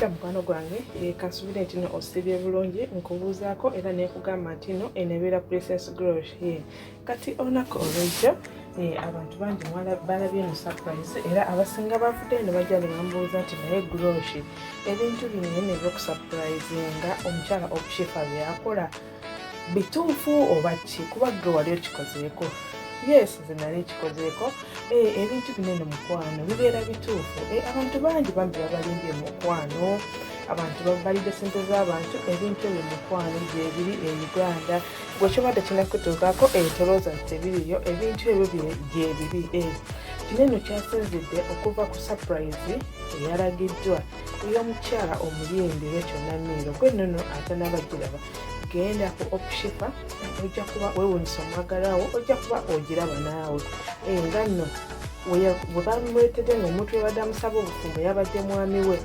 mukwano gwange eh, kasubire nti no osibye bulungi nkubuuzaako era nekugamba nti no enebeera princess grosh ye kati olunaku olwejjo eh, abantu bangi balabye eno surprise era abasinga bavudde eno bajja ne bambuuza nti naye groshi ebintu bino naye nebyokusurprise nga omukyala obushifa byeyakola bituufu oba ki kuba gwe wali okikozeeko yes zenali ekikozeeko eh, ebintu bino eno mukwano bibeera bituufu eh, abantu bangi bambi babalimbye mukwano abantu babalidde sente z'abantu ebintu ebyo mukwano gyebiri e uganda gwe kiba tekinakutuukako ebitolooza nti tebiriyo ebintu ebyo gyebiri eh, kino eno kyasinzidde okuva ku sapurayizi eyalagiddwa ey'omukyala omuyimbi wekyonna miiro gwe nono atanabagiraba genda ku okushipa ojja kuba wewunyisa omwagalawo ojja kuba ogiraba naawe eh, nga nno bwebamwetede nga omuntu yabadde amusaba obufumbo yabadde mwami we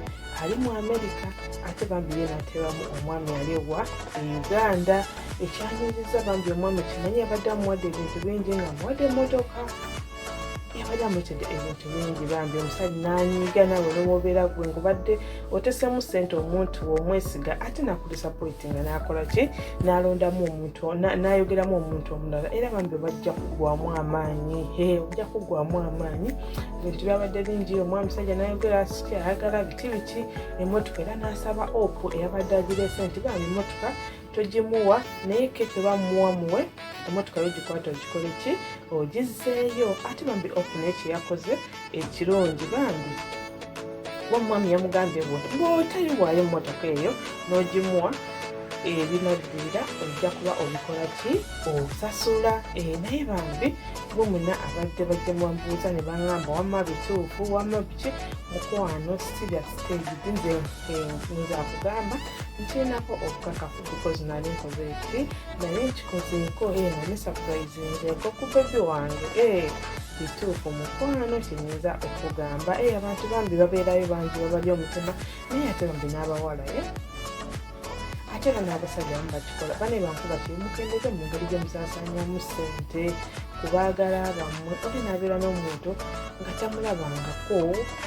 ali mu amerika ate bambi ye natebamu omwami ali ewa e uganda ekyaniriza bambi omwami kimanyi yabadde amuwadde ebintu bingi nga amuwadde emotoka yabadde amuletedde ebintu bingi bambi omusajja nanyiiga nawe nowobeera gwe ngubadde otesemu sente omuntu womwesiga ate nakudisapoiti nga nakola ki nalondamu omuntu nayogeramu omuntu omulala era bambi bajja kugwamu amaanyi ojja kugwamu amaanyi ebintu byabadde bingi omwa musajja nayogera siki ayagala biti biki emotoka era nasaba opu eyabadde agirese nti bambi emotoka togimuwa naye keke bamuwa muwe emotoka yo gikwata ogikole ki ogizeeyo ate bambi opu naye kyeyakoze ekirungi bambi wamwami yamugambye bwotayiwaayo emotoka eyo nogimuwa ebinaddirira ojja kuba obikola ki osasula eh, naye bambi bo muna abadde bajja mubamubuuza ne bangamba wamma bituufu wamma biki mukwano sibya stage nze nze akugamba nkirinako obukakafu because nali nkoze eki naye nkikozeeko ee nani sapurayizinzeeko ku bebi wange ee eh, bituufu mukwano kiyinza okugamba ee eh, abantu bambi babeerayo bangi babali omutima naye ate bambi n'abawalaye eh? ate bano abasajja amu bakikola bane bankuba kiri mukendeze mu ngeri gye musasanyamu ssente kubaagala bammwe oli nabeera n'omuntu nga tamulabangako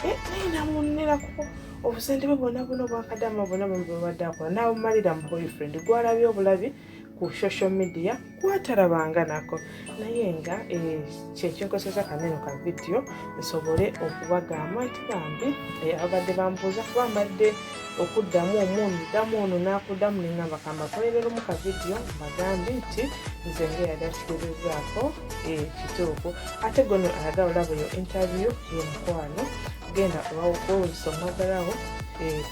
eh, naye namunerako obusente bwe bwona bwona obwakadama bwona bwebadde akola nabumalira mu boyfriend gwalabye obulabi ku social media kwatalabanga nako naye nga eh, kyekinkozesa kaneno ka vidiyo nsobole okubagamba nti bambi eh, abadde bambuuza kuba mbadde okuddamu omu ndamu ono nakuddamu nengamba kambakolereremu ka vidiyo mbagambi nti nze ngeyali akiterezaako eh, kituufu ate gono alaga olaba eyo interview yemukwano genda owawokwewuliso mwagalawo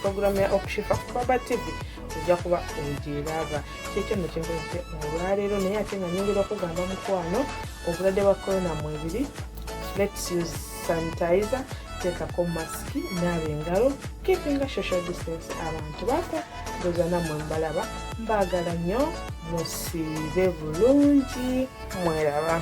programu ya okushifa ku baba tivi ojja kuba ogyeraba kyekyo no kyenkozese olwaleero naye ate nga nyongera okugamba mukwano obulwadde bwa corona mwebiri let's use sanitizer teekako masiki naaba engalo keepinga social distance abantu bako ndoza namwe mbalaba mbaagala nnyo musiibe bulungi mweraba